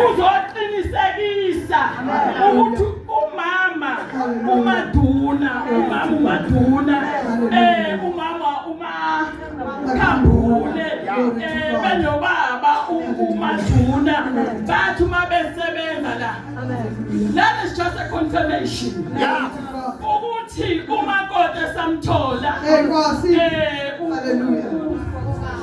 uzoqinisekisa ukuthi umama umaduna umama umaduna eh umama uma khambule eh benobaba umaduna bathi uma besebenza la that is just a confirmation yeah ukuthi umakoti esamthola eh, eh haleluya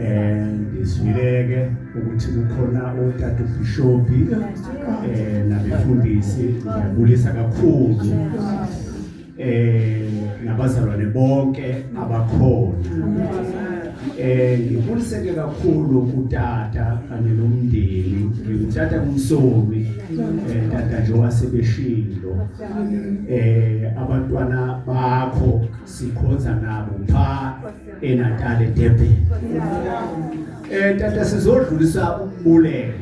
eh ngizwileke ukuthi kukhona otata ubishopi eh nabefundisi ngiyabulisa kakhulu eh nabazalwane bonke abakhona eh ngibuliseke kakhulu kutata kanye nomndeni ngithatha umsomi eh tata nje wasebeshilo eh abantwana bakho sikhonza nabo pha eNatal eDurban eh tata sizodlulisa ukubuleka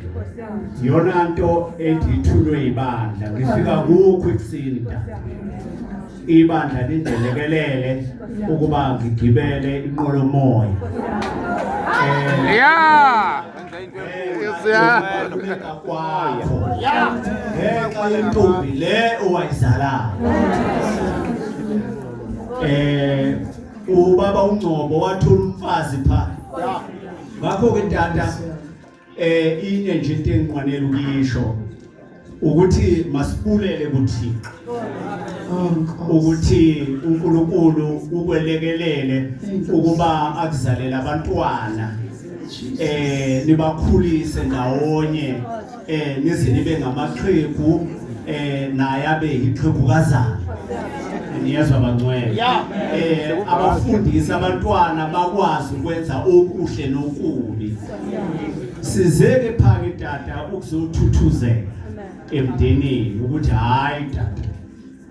yona nto edithulwe ibandla ngifika kukho ekusini tata ibandla lindelekelele ukuba ngigibele inqolomoya eh yeah kwakho ngenxa yentombi le owayizalayo um ubaba uNgcobo wathola umfazi pha ngakho ke tata eh ine nje into engiqwanele ukuyisho ukuthi masibulele kuThixo ukuthi uNkulunkulu ukwelekelele ukuba akuzalela abantwana eh nibakhulise ndawonye eh nize nibe ngamaxhegu eh naye abe yixhegukazana niyezwa bangcwele eh abafundisi abantwana bakwazi ukwenza okuhle nokubi sizeke phake tata ukuzothuthuzela emndenini ukuthi hayi tata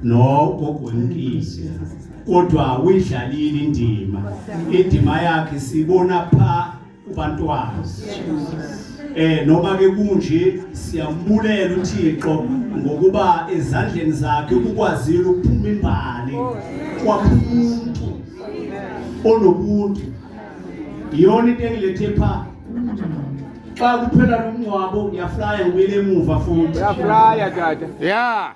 no gogwemkisi kodwa uyidlalile indima indima yakhe sibona pha kubantwana eh noma ke kunje siyambulela uThixo ngokuba ezandleni zakhe ukukwazile ukuphuma imbali kwamuntu onobuntu iyona into engilethe pha xa kuphela lomngcwabo ngiyaflaya ngibuyele emuva futhi uyaflaya tata yeah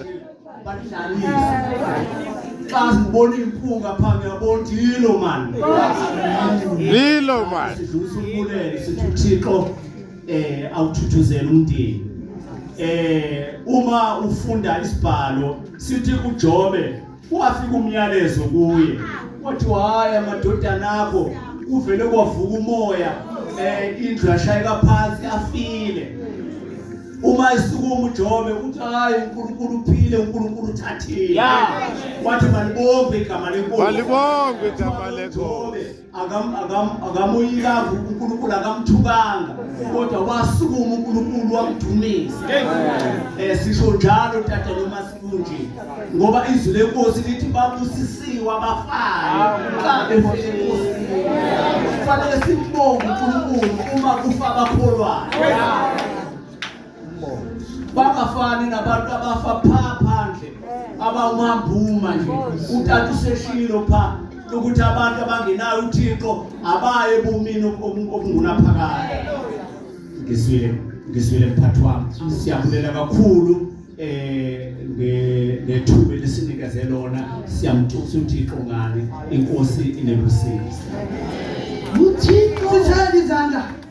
xa sibona impunga phambi yabona yilo mani yilo mani sidlulisa umbulelo sithi uthixo eh awuthuthuzela umndeni eh uma ufunda isibhalo sithi uJobe Kwafika umyalezo kuye kwathiwa hhayi amadodana akho kuvele kwavuka umoya um indlu yashayeka phansi afile uma esukuma ujobe uthi hhayi unkulunkulu uphile unkulunkulu uthathile wathi malibonge igama lenkosi akamoyikazi uNkulunkulu akamthukanga kodwa wasukuma uNkulunkulu wamdumisa eh sisho njalo tata noma sikunje ngoba izwi lenkosi lithi babusisiwe abafayo xa befike enkosini kufanele simbonge uNkulunkulu uma kufa abakholwayo bangafani nabantu abafa pha phandle abawumambuma nje utata useshilo pha ukuthi abantu abangenayo uthixo abaye ebumini obungunaphakade ngiswile ngiswile mphathi wami siyabulela kakhulu eh ngethuba lesinikeze lona siyamthusa uthixo ngani inkosi inebusisi uthixo uthanda izandla